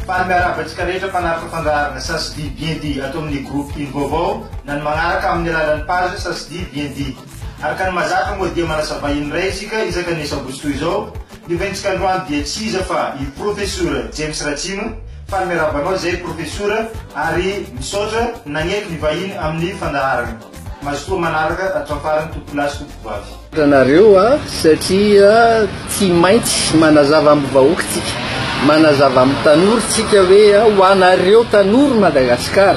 Fangaravantsika rehetra mpanaraka fandaharana Sasdi Bien Dit ato amin'ny groupe Ino Vaovao na ny magnaraka amin'ny alalan'ny page Sasdi Bien Dit. Araka ny mahazatra moa dia manasa vahiny iray isika isaka ny sabotsy toy izao, Ny rentsika androany dia tsy iza fa i Profesora James Ratsimo, faly miarahaba anao izay Profesora ary misaotra nagnety ny vahiny amin'ny fandaharana. Mazotoa manaraka hatramin'ny farany Tompolahy sy Tompovavy. Anareo a satria tsy maintsy manazava am vahoaka tsika manazava am tanora tsika hoe ho anareo tanora Madagascar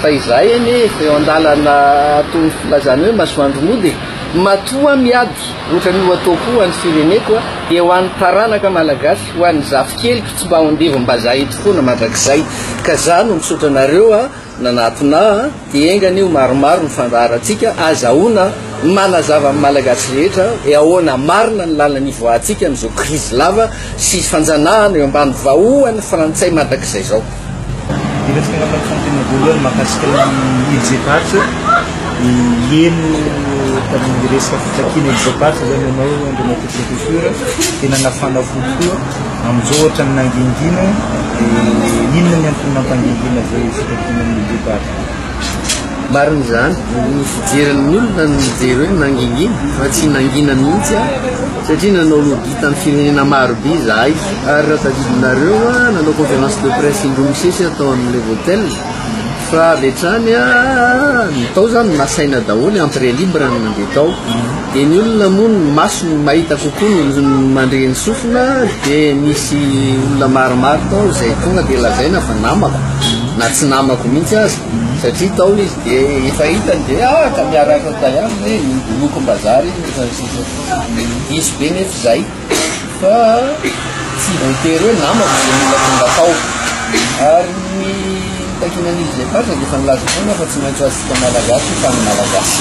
fa izahay anie efa eo andalana toy ny filazana hoe masoandro mody e matoa miady Otrany ho ataoko ho any fireneko a, dia ho any taranaka malagasy, ho any zafikeliko tsy mba ao andevombazaha eto foana mandrakizay. Ka za no misaotra anareo a, nanatona a, dia enga anie ho maromaro ny fandaharantsika, azahoana manazava amin'ny malagasy rehetra hoe ahoana marina ny lalana hivoahantsika amin'izao krizy lava sy fanjanahana eo ambany vahohany frantsay mandrakizay zao. Resaka ny fampifampiana voalohany mahakasika ny Irjepatch, ny heno tamin'ny resaka fitakiana Irjepatch izany ianao Andriamatoa Professeur dia nanafana fo tokoa. Amin'izao ohatran'ny nangingina dia inona ny antony nampangingina izay fitakiana ny Irjepatch? Marina izany, ny fijerin'ny olona no mijery hoe nangingina fa tsy nangina mihitsy aho satria nanao lobby tamin'ny firenena maro be izahay ary raha tadidinareo aho nanao conférence de presse indroa misesy aho tao amin'ny Levotel fa avy hatrany aho ny tao izany nasaina daholo entrée libre ny nandeha tao Dia ny olona moa ny masony mahita kokoa no mandre ny sofina dia misy olona maromaro tao izay tonga dia lazaina fa namako na tsy namako mihitsy aza satria tao izy dia efa hitany dia ah ka miaraka tayam hoe nodolokom-bazary izy fa ny sisa diso be nefa izay fa tsy voatery hoe namako izay olona tonga tao ary ny takinan'izy izay faritra dia efa nilaza foana fa tsy maintsy ho antsika malagasy fa ny malagasy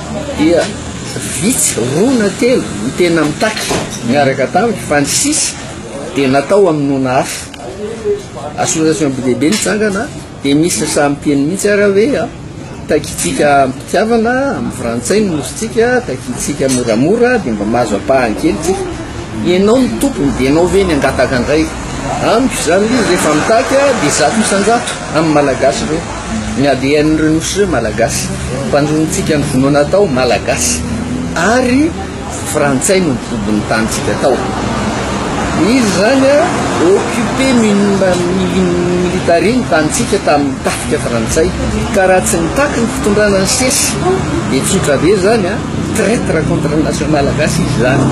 dia vitsy roa na telo ny tena mitaky miaraka tamiko fa ny sisa dia natao amin'ny nona hafa association be dehibe nitsangana dia misy sasa miteny mihitsy ara hoe a ah, takitsika mpitiavana amin'ny frantsay ny nositsika takitsika moramora dia mba mahazo ampahany kelytsy ianao ny tompony dia ianao ve ny angataka indray amiko izany rehefa mitaky a ah, dia zato isanjato amin'ny malagasy ireo Miady enreo nosy reo malagasy mpandronintsika ny vonoana tao malagasy ary frantsay no nibobo ny tanintsika tao izy zany a occupé military ny tanintsika tamin'ny tafika frantsay ka raha tsy nitaky ny fitondrana ny sesy dia tsotra be zany a traitre contre ny nation malagasy izy zany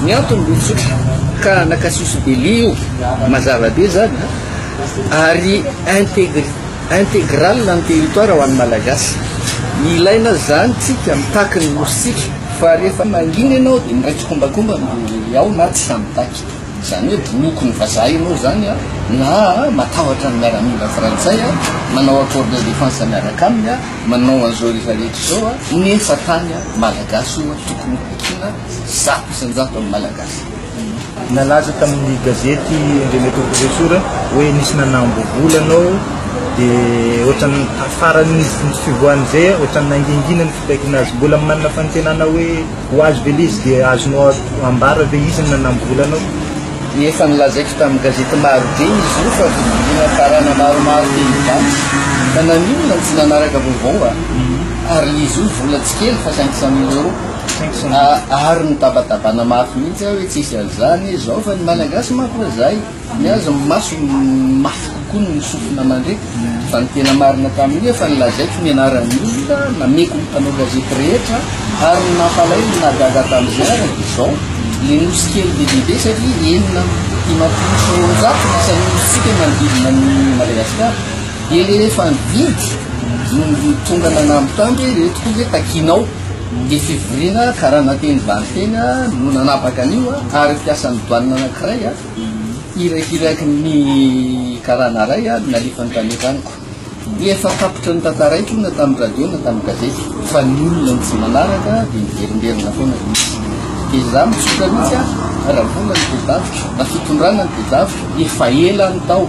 ny antony be tsotra ka nakasiosy be lia io mazava be zany a ary integri integral ny territoire ho an'ny Malagasy. Ilaina izany tsika mitaky ny nositsika fa rehefa mangina ianao dia miray tsikombakomba ny ao na tsy sahy mitaky. Izany hoe boloky ny vazaha ianao izany a, na matahotra ny miaramila frantsay a, manao accord de défense miaraka aminy a, manao an'izao rehefa rehetra izao a, nefa tany Malagasy oa tokony ho vakiana zato isan-jato amin'ny Malagasy. Nalaza tamin'ny gazety Indre Metoa Profesora hoe nisy nanambo vola anao dia ohatran'ny tafaran'izy ny fivoahan'izay ohatran'ny nangingina ny fitakiana azy. Mbola manana fanantenana hoe ho azo ve ilay izy dia azonao ambara ve izy ny nanambo vola anao? Efa nolazaiko tamin'ny gazety maro be izy io fa vidiana karana maromaro teny Ivato fa naninona no tsy nanaraka vaovao an? Ary izy io vola tsy kely fa cinq cent mille euros. Ary mitabatabana mafy mihitsy aho hoe tsisy an'izany izao fa ny Malagasy manko hoe zay ny azy ny masony mafy kokoa noho ny sofina mandre fa ny tena marina tamin'io efa nilazaiko ny anaran'ny olona nameko ny mpanao gazety rehetra ary ny nampalahelo ny nahagaga tamin'izay ary dia izao le nosy kely be dia be satria enina amby dimampolo sy roanjato ny isan'ny nosintsika manodidina ny Madagasikara dia le efa nividy no tonga nanamby tamby hoe ireto koa ve takinao Ny fivoriana karana teny Valinteny no nanapaka an'io ary mpiasan'ny douane anankiray irakiraky ny karana iray no nalefany tany an-tranoko. Efa tapitra notantaraiko na tamin'ny radio na tamin'ny gazety fa ny olona no tsy manaraka dia miverimberina foana ilay izy. Dia izaho mitsotra mihitsy aho raha mbola ny tedaviko na fitondrana ny tedaviko efa ela no tao.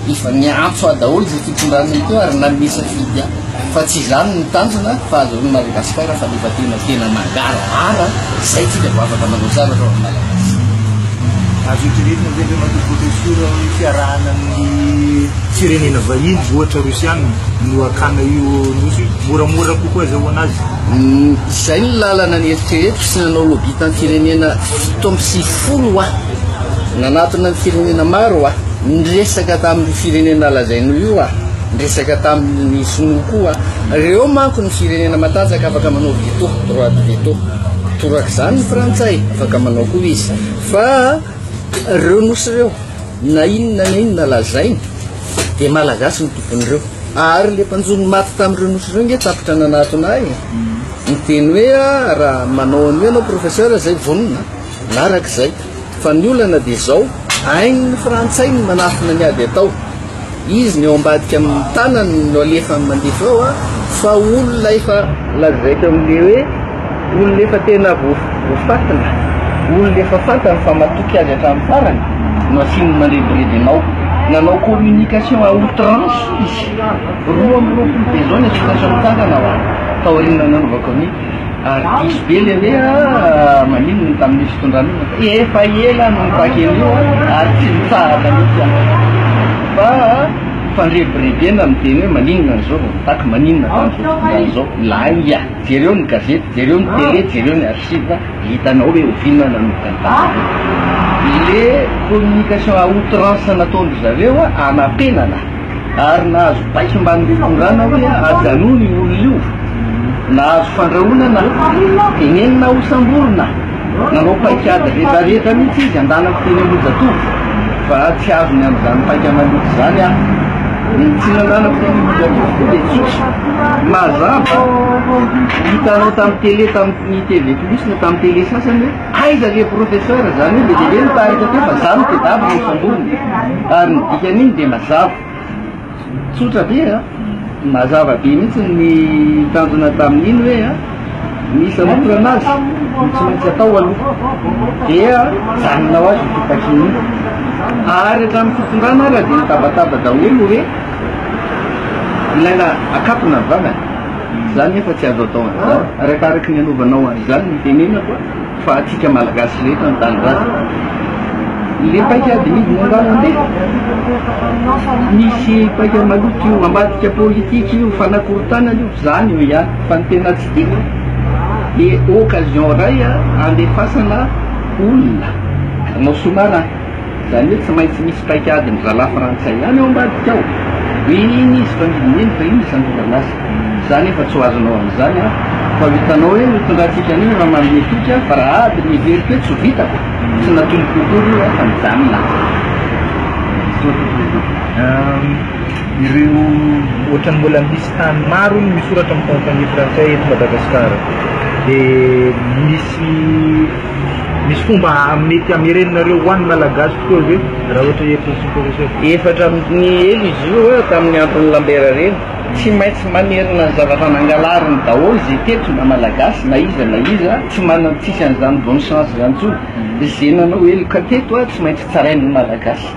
Efa niantso ahy daholo izay fitondrana ity ary nanome safidy ahy fa tsy izany no tanjona fa azahoan'i Madagasikara fahaleovantena tena mangarahara izay tsika vao afaka manao zavatra ho an'ny Malagasy. Azo eritreretina ve ve Matoa Profesora hoe fiarahana amin'ny firenena vahiny ohatra Rosiana no hakana io nosy io? Moramora kokoa azahoana azy? Izay ny lalana neritreretiko sy nanao lobby tamin'ny firenena fito amby sivifolo aho. Nanatona ny firenena maro aho. Niresaka tamin'io firenena lazainao io aho, niresaka tamin'ny sinoa koa. Ireo manko ny firenena matanjaka afaka manao veto, droit de veto. Torak'izany ny frantsay, afaka manao koa izy. Fa ireo nosy ireo, na inona na inona lazainy, dia malagasy no tompon'ireo. Ary ilay mpanjono maty tamin'ireo nosy ireo ange tapitra nanatona ahy e. Niteny hoe, raha manao an'io ianao professeur, izay vonona, na arak'izay. Fa ny olana dia izao, hain'ny frantsay ny manafina ny ady atao. Izy ny eo ambadika amin'ny tanany no alefany mandefa eo a, fa olona efa lazaiko amin'le hoe olona efa tena voafatina, olona efa fantany fa matoky azy hatramin'ny farany no asiany mandrebireby anao. Nanao communication à outrance izy, roa amby roapolo dia izao ny atsipatran'ny tanana ho ahy, taorian'ny nanaovako an'i. Diso be le hoe ah maninona tamin'io fitondrana io fa efa ela no nitaky an'io ary tsy nitsahatra mihitsy aho. Fa fandrebirebena ny teny hoe maninona an'izao vao nitaky, maninona tamin'izao fitondrana izao. Lainga, jereo ny gazety, jereo ny tele, jereo ny archive, hitanao hoe oviana nanokana le communication à outrance nataon-dry zareo hanapenana. ary nahazo baiko mba nitondràna hoe ajanony io olona io, nahazo fandrahonana, tenenina ho samborina, nanao paikady rehetrarehetra mihitsy izy andanako teny Ambohijatovo fa tsy azony amin'izany paika maloto izany aho. Ny tsy nandanako teny Ambohijatovo koa dia tsotra, mazava, hitanao tamin'ny tele, tamin'ny TV plus na tamin'ny tele sasany hoe. Aiza le professeur? Zany hoe be dia be ny tarika teo fa za no tedavy no samborina. Ary ny dikan'iny dia mazava. Tsotra be a! Mazava be mihitsy ny tanjona tamin'iny hoe a! Misy hanorana azy no tsy maintsy atao aloha. Dia mijanona ho azy io fitakiana io. Ary hatramin'ny fitondrana ary dia nitabataba daholo hoe ilaina akatona ny vavany. Za nefa tsy azo atao an'izany, arakaraky ny anovanao an'izany ny tenenako fa antsika Malagasy rehetra ny tanindrazana le paika adimidy no angaha mandeha? Misy paika maloto io, ambadika politika io, fanakorontanana io, zany io ihany fa ny tena tsy tiako dia occasion ray andefasana olona, anao soa marina. Izany hoe tsy maintsy misy paikadin'ny rahalahy frantsay ihany ao ambadika ao. Hoe iny izy fa midina eny fa iny ny santatra lasa. Za nefa tsy ho azonao amin'izany an! Fa ho hitanao hoe ho tondrahantsika an'io raha manome toky aho fa raha ady no heveriko hoe tsy ho vitako, tsy natoliko akory io an! Fa mijanona aho. Misaotra Tompo Jesoa. Ireo ohatran'ny mbola misy tany maro hono misoratra amin'ny fanjakana frantsay eto Madagasikara dia misy Misy fomba mety hamerenanareo ho an'ny Malagasy tokoa ve raha ohatra hoe Petit Professeur? Efatra amby ny elo izy io eo tamin'ny andron'ny Lambert reny. Tsy maintsy mamerina ny zavatra nangalariny daholo izay teto na Malagasy na iza na iza tsy manan-tsisy an'izany bonne chance izany intsony. Izay nanao heloka teto tsy maintsy tsarain'ny Malagasy.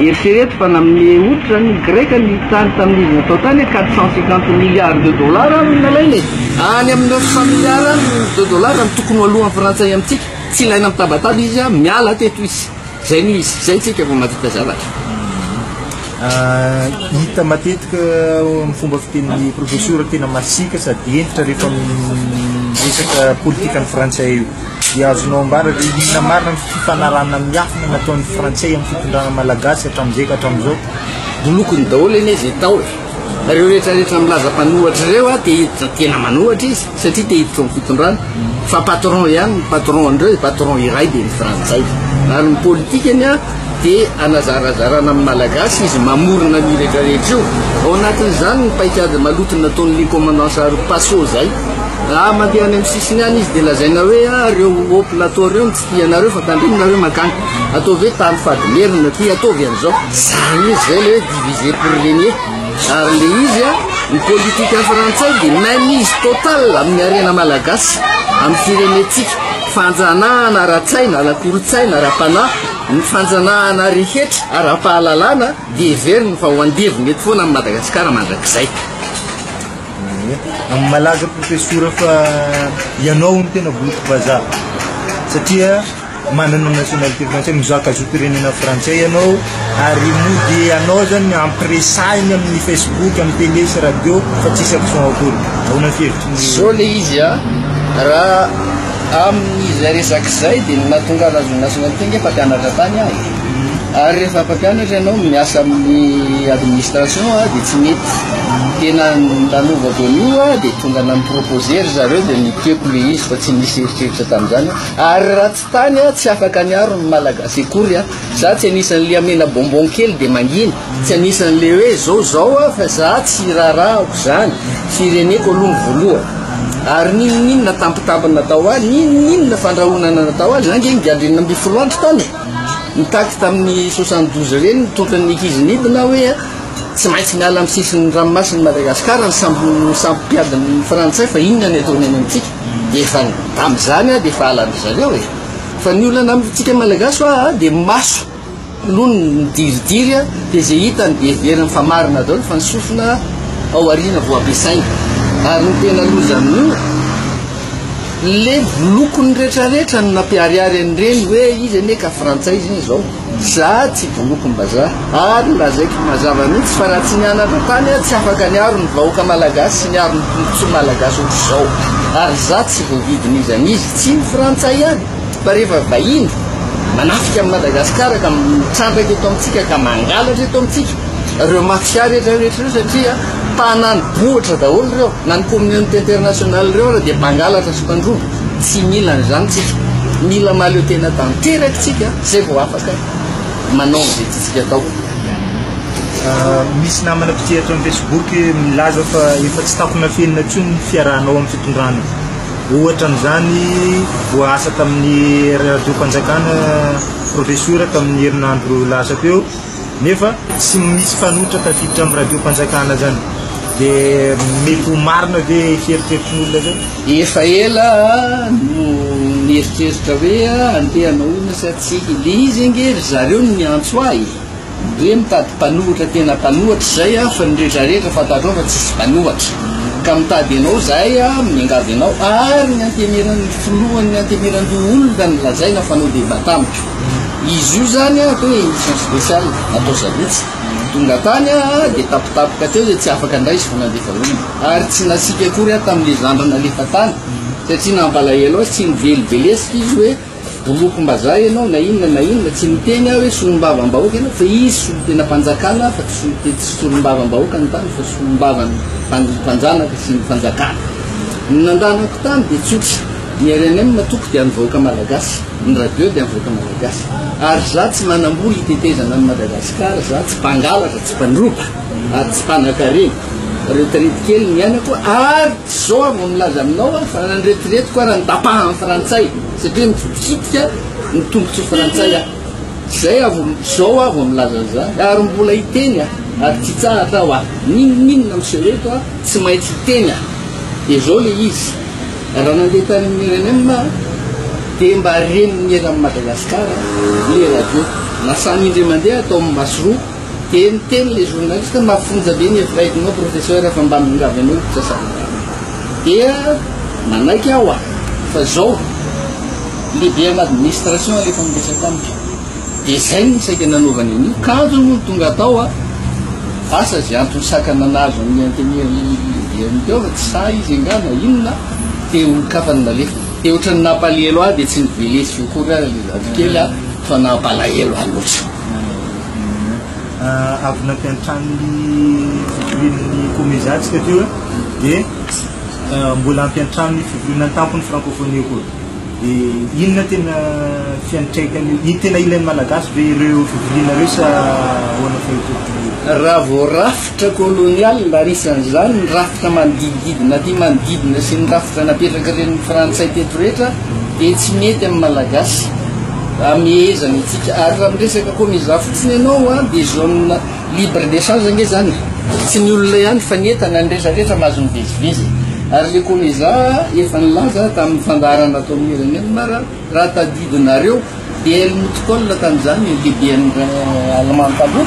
Eritrereto fa nanome otrra ny Greka ny tany tamin'ny izy natao tany hoe quatre cent cinquante milliards de dollars no nalaina e! Any amin'ny neuf cent milliards de dollars no tokony ho alohan'ny frantsay amintsika. Tsy ilaina mitabataba izy a! Miala teto izy! Izay no izy! Izay tsika vao mahavita zavatra. Hita matetika amin'ny fomba fitenin'ny profesora tena masiaka sady hentitra rehefa miresaka politikan'ny frantsay io. Dia azonao ambara ve inona marina ny fifanarahana miafina nataon'ny Frantsay amin'ny fitondrana Malagasy hatramin'izay ka hatramin'izao? Bolokony daholo anie izay tao e! Ireo rehetra rehetra milaza mpanohatra ireo a, te hiditra tena manohatra izy satria te hiditra ao amin'ny fitondrana fa patron ihany ny patron an'ireo e, patron iray dia ny frantsay. Ary ny politikany a dia hanazarazarana amin'ny malagasy izy mamorona an'io rehetra rehetra io. Ao anatin'izany ny paikady maloto nataon'ilay commandant Saro Paso izay. Raha mandeha any amin'ny sisiny any izy dia lazaina hoe ah, reo haut plateau reo no tsy tia anareo fa tandrimo nareo mankany. Ataovy hoe tany fadimerina aty, ataovy an'izao. Zany izy zay le hoe diviser pour régner. Ary le izy a, ny politika frantsay dia mainmise totale amin'ny harena malagasy, amin'ny firenentsika. Fanjanahana ara-tsaina, ara-kolontsaina, ara-panahy, ny fanjanahana rehetra ara-pahalalana dia heveriny fa ho andevo mety foana amin'i Madagasikara mandrakizay. Amin'ny malaza profesora fa ianao no tena boloky vazaha satria manana nationalité français mizaka zom-pirenena frantsay ianao ary mody ianao zany ampiresahiny amin'ny facebook amin'ny télé sy radio fa tsisy action akory ahoana fihevitry ny zao le izy a raha amin'izay resaka izay dia ny nahatonga azy nationalité nge fa mpianatra tany azy Ary rehefa mpampianatra ianao miasa amin'ny administration dia tsy mety. Tena nanovako an'io dia tonga namproposer ry zareo dia nitieko ilay izy fa tsy nisy eritreritra tamin'izany aho. Ary raha tsy tany aho tsy afaka niaro ny Malagasy akory aho. Za tsy anisan'ilay hamena bonbon kely dia mangina. Tsy anisan'ilay hoe izao izao aho fa za tsy hirarahako izany. Fireneko aloha no voalohany. Ary n'inon'inona tampitampiny natao ahy, n'inon'inona fandrahonana natao ahy, za ange nigadrena ambin'ny folo andro tany e. Nitaky tamin'ny soixante douze ireny ny totran'ny Ikiz Nib na hoe tsy maintsy miala amin'ny sisin'ny ranomasin'i Madagasikara ny sambo sambo mpiadin'ny frantsay fa inona ny ataony any amintsika dia efa tamin'izany aho dia efa halan-dry zareo e fa ny olana amintsika malagasy hoa dia maso aloha ny midiridiry a dia izay hitany dia heveriny fa marina daholo fa ny sofina ao aoriana vao ampiasaina ary ny tena loza amin'io le lokony retraretra no nampiharihary an'ireny hoe izy anie ka frantsay izy izao za tsy bolokom-bazaha ary lazaiko mazava mihitsy fa raha tsy nianatra tany aho tsy afaka niaro ny vahoaka malagasy sy niaro ny tombontsoa malagasy ohatr'izao ary za tsy voavidin'izy an'izy tsy ny frantsay ihany fa rehefa vahiny manafika amin'i madagasikara ka mitrandraka eto amintsika ka mangalatra eto amintsika ireo mafia rehetra rehetra ireo satria Tanàna bohitra daholo ireo, na ny communauté internationale ireo ary dia mpangalatra sy mpandroba. Tsy mila an'izany tsika. Mila mahaleo tena tanteraka tsika zay vao afaka manao an'izay tiantsika atao. Misy namana mpitriatra am facebook milaza fa efa tsy takonafenina intsony ny fiarahanao am fitondrana. Ohatra amin'izany voaasa tamin'ny radiom-panjakana profesora tamin'ny herinandro lasa teo. nefa tsy misy mpanohitra tafiditra amin'ny radiom-panjakana zany dia mety ho marina ve fieritreritry ny olona zay? Efa ela no nieritreritra hoe andeha hanao inona sa tsia. Dia izy ange ry zareo no niantso ahy hoe mitady mpanohitra tena mpanohitra izay aho fa ny rehetra rehetra fantatrao fa tsisy mpanohitra ka mitady anao izahay miangavy anao ary ny antemeran'ny filohan'ny antemeran-doholona no lazaina fa hanao débat tamiko. Izy io zany atao hoe émission spéciale atao sabotsy tonga tany dia tapitapika teo dia tsy afaka indray izy fa nandefa olona ary tsy nasiaka akory aho tamin'ilay zandry nalefa tany satria nampalahelo azy tsy niveliveleska izy hoe bolokom-bazaha ianao na inona na inona tsy niteny aho hoe solombavam-bahoaka ianao fa izy solom-tenam-panjakana fa tsy solom- tsy solombavam-bahoaka ny tany fa solombavam- pan- mpanjanaka sy ny fanjakana ny nandanako tany dia tsotra Ny rnm no toko dia an'ny vahoaka malagasy, ny radio dia an'ny vahoaka malagasy. Ary za tsy manambola hitetezana an'i Madagasikara, za tsy mpangalatra, tsy mpandroba, ary tsy mpanakarena. Reo tret kely ny anako, ary tsy zao aho vao milaza aminao aho fa nandretiretiko ary nitapahan'ny frantsay, satria nitsikitsitika ny tombotsoa frantsay aho. Zay aho vao, zao aho vao milaza an'zany. Ary mbola hiteny aho, ary tsy hitsahatra aho aho. N'inon'inona miseho eto aho tsy maintsy hiteny aho. Dia zao le izy. Raha nandeha tany amin'ny RNM aho dia mba reny ny eran'i Madagasikara ilay radio. Lasana indray mandeha aho tao amin'ny Masoroka dia niteny ilay journaliste, mafonja be ny hevi-baidinao professeur fa mba miongavy anao io mpisasaran-dalana. Dia nanaiky aho aho fa izao, lehiben'administration alefa miresaka amiko. Dia izay no saika nanaovany an'io. Kanjo moa no tonga atao a! Asa izay antony sakana nahazo an'i Antemir Ireny teo fa tsy sahy izy angaha na inona te olon-kafa no nalefiny. Dia ohatran'ny nampalahelo ahy dia tsy nivelesiko akory ary ilay zafikely a! fa nampalahelo ahy loatra. Avy naty an-tranon'ny fivorian'ny Komezatsika teo dia mbola ampiantrano ny fivoriana an-tampon'ny Frankôfônia koa. Dia inona tena fiantraikany io? Tena ilain'ny Malagasy ve ireo fivoriana ireo sa ahoana fa hitodiana io? Raha vao rafitra kolonial ary isan'izany ny rafitra manodidididina aty manodidina sy ny rafitra napetrakarn'ny Frantsay teto rehetra dia tsy mety amin'ny Malagasy. Amehezana antsika. Ary raha miresaka koa mizaha fotsiny ianao dia zone Libre d'echange nge zany tsy ny olona ihany fa ny entana ny rehetra rehetra mahazo mivezivezy ary le Comeza efa nilaza tamin'ny fandaharana ataon'ny Iranianmar raha tadidinareo dia Helmut Kohl tamin'izany ny lehiben'ny Allemand taloha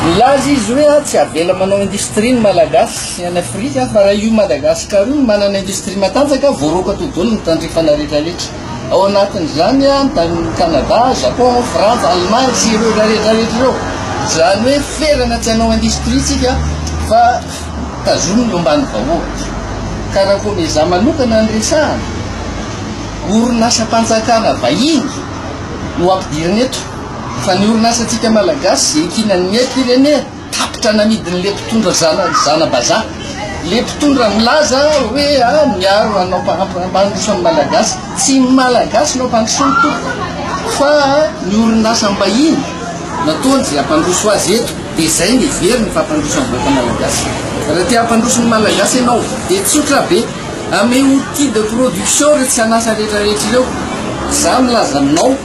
nilaza izy hoe tsy avela manao industrie ny Malagasy any Afrika fa raha io Madagascar io manana industrie matanjaka voaroaka todolo ny tandrifana rehetra rehetra Ao anatin'izany an, ny Canada, Japon, Frantsa, Allemagne sy ireo rehetra rehetra ireo. Izany hoe ferana tsy hanao industrie tsika fa tazominy eo ambany vahoaka. Karakoa ny za manokana ny resahana, orinasam-panjakana vahiny no ampidirina eto fa ny orinasantsika malagasy ze ikinan'ny firenena. tapitra namidin'le mpitondra zana zanabazaha le mpitondra milaza hoe a ah, miaro anao mpandroso ny malagasy tsy ny malagasy nao mpandrosoany toko fa ny orinasa mbahiny nataony zay ampandroso azy eto de zay ny very ny fampandroso ny vahoaka malagasy raha te hampandroso ny malagasy ianao de tsotra be ame outil de production re tsy anasa rehetrarehetra ireo za milaza aminao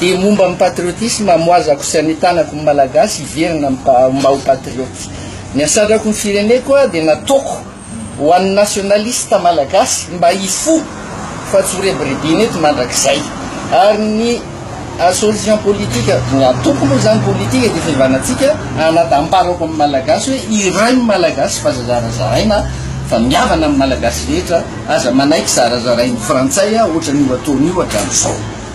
Dia momba ny patriotisme, amoazako sy anitanako ny Malagasy hiverina mba ho patriote. Ny hasatrako ny fireneko dia nataoko ho an'ny nationaliste Malagasy mba hifoha fa tsy ho rebiribina eto mandrakizay. Ary ny association politique, ny antoko moa izany politique dia fihavanantsika, anadamparako amin'ny Malagasy hoe iray ny Malagasy fa aza zarazaraina fa mihavana amin'ny Malagasy rehetra, aza manaiky zarazarain'ny Frantsay ohatran'io ataony io hatramin'izao.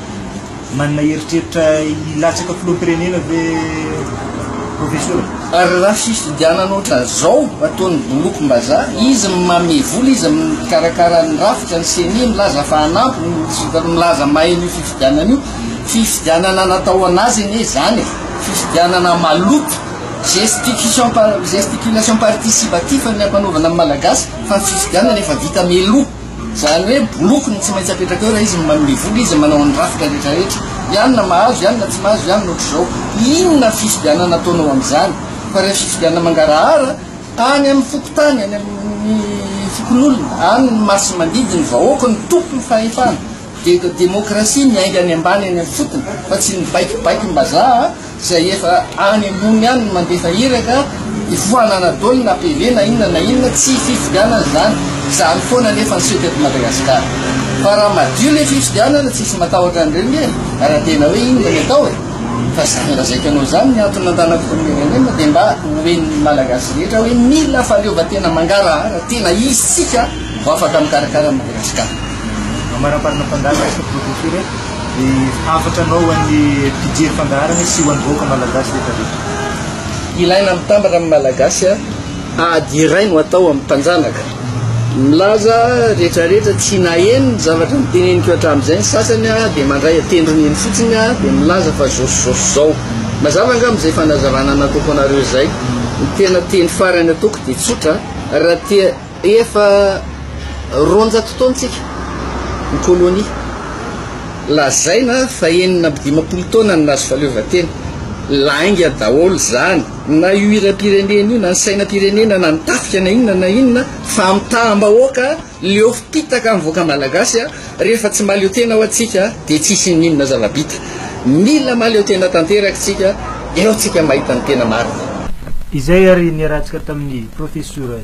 Manana eritreritra hilatsaka filoham-pirenena ve Profesora? Ary raha fifidianana ohatran'izao ataon'ny bolokom-bazaha, izy manome vola, izy mikarakara ny rafitra, ny ceni milaza fa hanampy, milaza mahay an'io fifidianana io, fifidianana natao an'azy anie izany e! fifidianana maloto, gesticulation, gesticulation participatif ny ampanaovana ny Malagasy, fa ny fifidianana efa vita mialoha. Izany hoe boloky no tsy maintsy apetraka eo raha izy no manome vola, izy no manao ny rafitra rehetrarehetra. Ihany na mahazo, ihany na tsy mahazo, ihany na ohatr'izao. Inona fifidianana ataonao amin'izany? Fa raha fifidianana mangarahara, any amin'ny fokontany, any amin'ny fokonolona, any no masimandidy ny vahoaka no tompon'ny fahefana. Dia eto demokrasia ny ainga any ambany any amin'ny fotony fa tsy ny baikibaikim-bazaha izay efa any ambony any no mandefa iraka hifohana Anadolo na PV na inona na inona tsy fifidianana izany izany foana anefa ny seho teto Madagasikara fa raha madio ilay fifidianana tsisy matahotra an'ireo nge raha tena hoe inona ny atao e fa zany raha zaikanao izany ny antony nandanako firenena dia mba hoen'ny Malagasy rehetra hoe mila fahaleovantena mangarahara tena izy tsika vao afaka mikarakara an'i Madagasikara Amarimarina fandaharana sy profetiora e, hafatra anao ho an'ny mpijery fandaharana sy ho an'ny vahoaka malagasy rehetra rehetra. Ilaina mitambatra amin'ny Malagasy a! Ady iray no atao amin'ny mpanjanaka. Milaza rehetra rehetra tsy naheno ny zavatra niteneniko hatramin'izay ny sasany a! Dia mandray an-tendrony eny fotsiny a! Dia milaza fa zao sy zao sy zao. Mazava angamba izay fanazavana nataoko anareo izay? Ny tena teny farany ataoko dia tsotra a! Raha te Efa roanjato taona tsika ny kolonia. Lazaina fa enina amby dimampolo taona ny nahazo fahaleovantena. Lainga daholo izany, na io hiram-pirenena io, na ny sainam-pirenena, na ny tafika na inona na inona, fa amitaham-bahoaka, leo fitaka amin'ny vahoaka malagasy, rehefa tsy mahaleo tena ho'a tsika dia tsy hisy inon'inona zava-bita. Mila mahaleo tena tanteraka isika, eo tsika mahita ny tena marina. Izay ary niarahantsika tamin'ny Profesora.